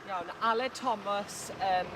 Iawn, Aled Thomas, um,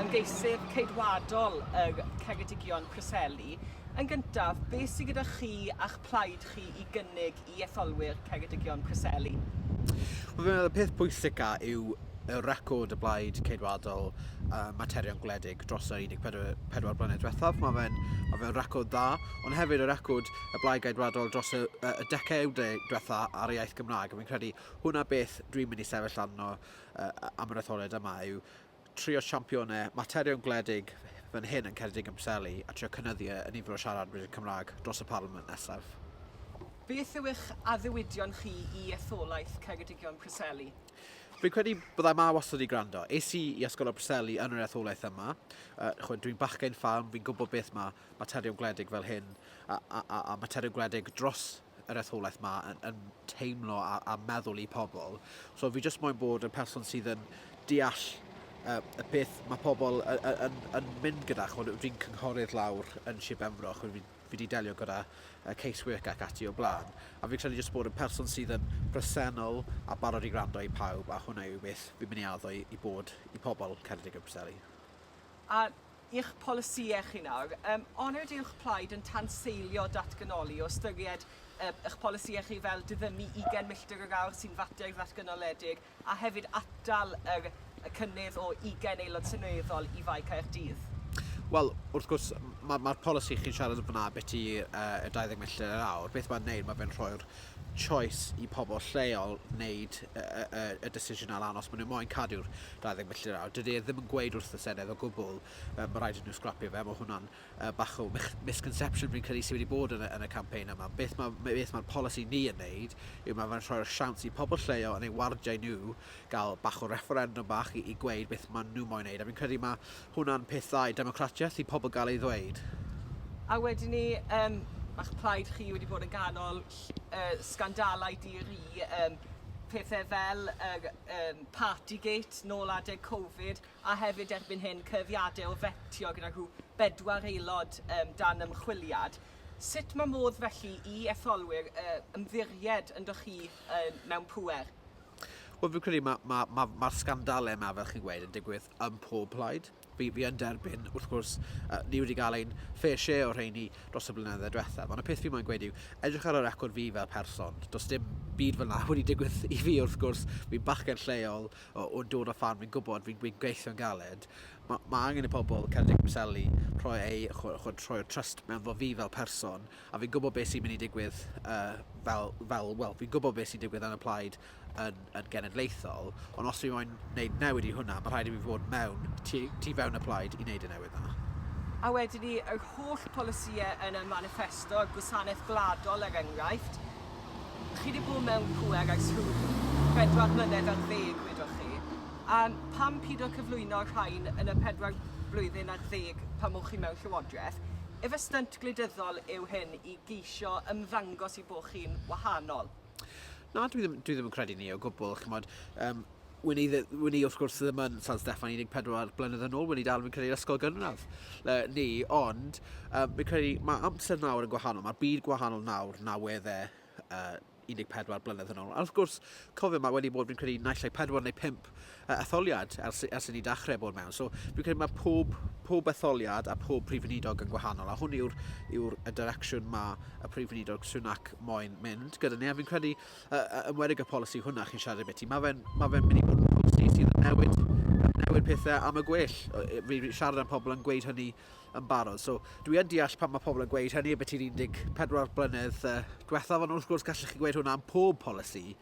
ymgeisydd ceidwadol y Ceredigion Preseli. Yn gyntaf, beth sydd gyda chi a'ch plaid chi i gynnig i etholwyr Ceredigion Preseli? Wel, fi'n meddwl, y peth pwysica yw y record y blaid ceidwadol uh, materion gwledig dros yr 14 blynedd diwethaf. Mae fe'n ma fe record dda, ond hefyd y record y blaid ceidwadol dros y, y, y decau diwetha ar y iaith Gymraeg. A fi'n credu Hwnna beth dwi'n mynd i sefyll arno am yr etholiad yma yw trio siampionau materion gwledig fan hyn yn Ceredig yn Preseli a trio cynyddu y nifer o siaradwyr Cymraeg dros y Parliament nesaf. Beth yw eich addewidion chi i etholaeth Ceredigion Preseli? Fi'n credu byddai ma wastad i gwrando. Es i i Ysgol y Preseli yn yr etholaeth yma. Uh, dwi'n bachgen ffarm, fi'n gwybod beth mae materion gwledig fel hyn a, a, a, a materion gwledig dros yr etholaeth ma yn, yn teimlo a, a meddwl i pobl. So fi jyst moyn bod yn person sydd yn deall uh, y peth mae pobl yn, yn, yn mynd gyda. Chod, fi'n cynghorydd lawr yn Sir Benfro, chod fi, fi wedi delio gyda uh, casework ac ati o blaen. A fi'n credu jyst bod yn person sydd yn presennol a barod i gwrando i pawb, a hwnna yw beth fi'n mynd i addo i, i bod i pobl Ceredig a Preseli. A Eich polisïau chi nawr. Um, onid yw'ch plaid yn tanseilio datganoli o ystyried um, eich polisïau chi fel diddymu 20 milltir yr awr sy'n fater ddatganoledig a hefyd atal yr, y cynnydd o 20 aelod seneddol i Fae Caerdydd? Wel, wrth gwrs, mae'r ma polisi chi'n siarad yn fyna beti uh, y 20 milltir yr awr. Beth mae'n neud, mae fe'n rhoi'r choice i pobl lleol wneud y, y, y, y decision ar anos. Maen nhw moyn cadw'r 20 milltir yr awr. Dydy e ddim yn gweud wrth y Senedd o gwbl, uh, mae rhaid i nhw sgrapio fe, mae hwnna'n uh, bach o misconception fi'n credu sydd wedi bod yn y, yn y campaign yma. Beth mae'r ma, beth ma polisi ni yn neud yw mae fe'n rhoi'r siawns i pobl lleol yn ei wardiau nhw gael bach o referendum bach i, i gweud beth maen nhw moyn neud. A fi'n credu mae hwnna'n peth dda i democratiaeth i pobl gael ei ddweud. A wedyn ni, um, mae'ch plaid chi wedi bod yn ganol uh, sgandalau di-ri, um, pethau fel uh, um, Partygate, nôl adeg Covid, a hefyd erbyn hyn cyhuddiadau o fetio gyda rhyw bedwar aelod dan ymchwiliad. Sut mae modd felly i etholwyr ymddiried ynddoch chi mewn pŵer? Wel fi'n credu mae'r sgandalau yma, fel chi'n gweud, yn digwydd ym mhob plaid. Fi fi yn derbyn wrth gwrs yy ni wedi gael ein fair share o rheini dros y blynydde diwethaf ond y peth fi moyn gweud yw edrych ar y record fi fel person does dim byd fel 'na wedi digwydd i fi wrth gwrs fi'n bachgen lleol o o dod o ffarm fi'n gwybod fi'n fi'n gweithio'n galed ma' ma' angen i pobl Ceredigion Preseli rhoi eu ch'mo' ch'od rhoi'r trust meddwl fi fel person a fi'n gwybod be' sy'n mynd i digwydd yy fel fel wel fi'n gwybod be' sy'n digwydd yn y plaid yn, yn genedlaethol, ond os fi moyn wneud newid i hwnna, mae rhaid i fi fod mewn, tu, tu fewn y plaid i wneud y newid yna. A wedyn ni, yr holl polisïau yn y manifesto, gwasanaeth gwladol er enghraifft, chi wedi bod mewn pwer ers rhyw bedwar mlynedd ar ddeg, wedoch chi. A pam pido cyflwyno rhain yn y pedwar blwyddyn ar ddeg pan o'ch chi mewn llywodraeth? Efe stynt gwleidyddol yw hyn i geisio ymddangos i bod chi'n wahanol? Na, dwi ddim, dwi ddim yn credu ni o gwbl, chymod. Um, Wyn i, wyn i wrth gwrs ddim yn San Steffan 14 blynedd yn ôl, wyn i dal fi'n credu ysgol gynradd le, ni, ond um, fi'n credu mae amser nawr yn gwahanol, mae'r byd gwahanol nawr na wedd e uh, 14 blynedd yn ôl. A wrth gwrs, cofio, mae wedi bod fi'n credu naill ai 4 neu 5 yy etholiad ers ers i ni dachrau bod mewn. So fi'n credu mae pob pob etholiad a pob prif weinidog yn gwahanol a hwn yw'r yw'r y direction mae y prif weinidog Sunak moyn mynd gyda ni a fi'n credu yy ymwedig y polisi hwnna chi'n siarad beth i mae fe'n mae fe'n mynd i bod yn polisi sydd yn newid newid pethau am y gwell. Fi siarad am pobl yn gweud hynny yn barod. So dwi yn deall pan mae pobl yn gweud hynny beth i'r 14 blynedd uh, diwethaf ond wrth gwrs gallech chi gweud hwnna am pob polisi